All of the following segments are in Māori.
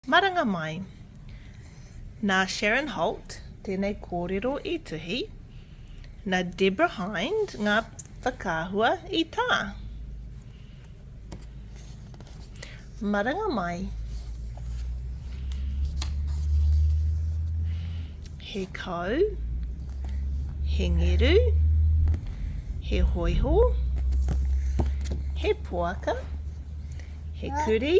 Maranga mai. Nā Sharon Holt tēnei kōrero i tuhi, nā Deborah Hind ngā whakaahua i tā. Maranga mai. He kau, he ngeru, he hoiho, he poaka, he kuri,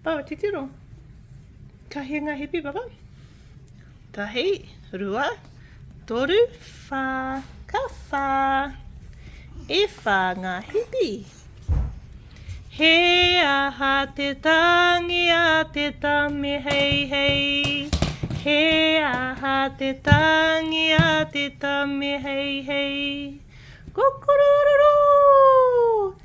Pau titiro. Ka hē ngā hipi papa. Tahi, rua, toru, whā. Ka whā. E whā ngā hipi. He aha te tangi a te tame hei hei. He aha te tangi a te tame hei hei. Kokorororo!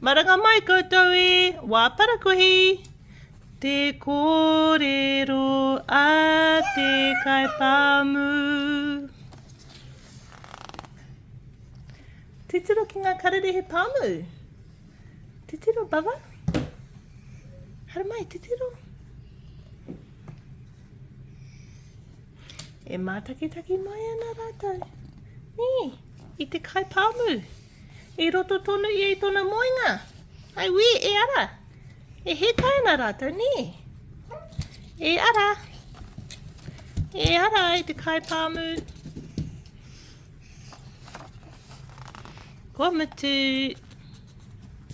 Maranga mai koutou e, wā parakuihi! Te kōrero a te kaipāmu. Titiro ki ngā karere he pāmu. Titiro, Bava. Hara mai, titiro. E mātakitaki mai ana rātou. Nī, i te kaipāmu. I roto tonu ia i tona moenga. Ai wē, e ara! E hētai ana rātou, nē? E ara! E ara e te kai pāmu. Kua mutu.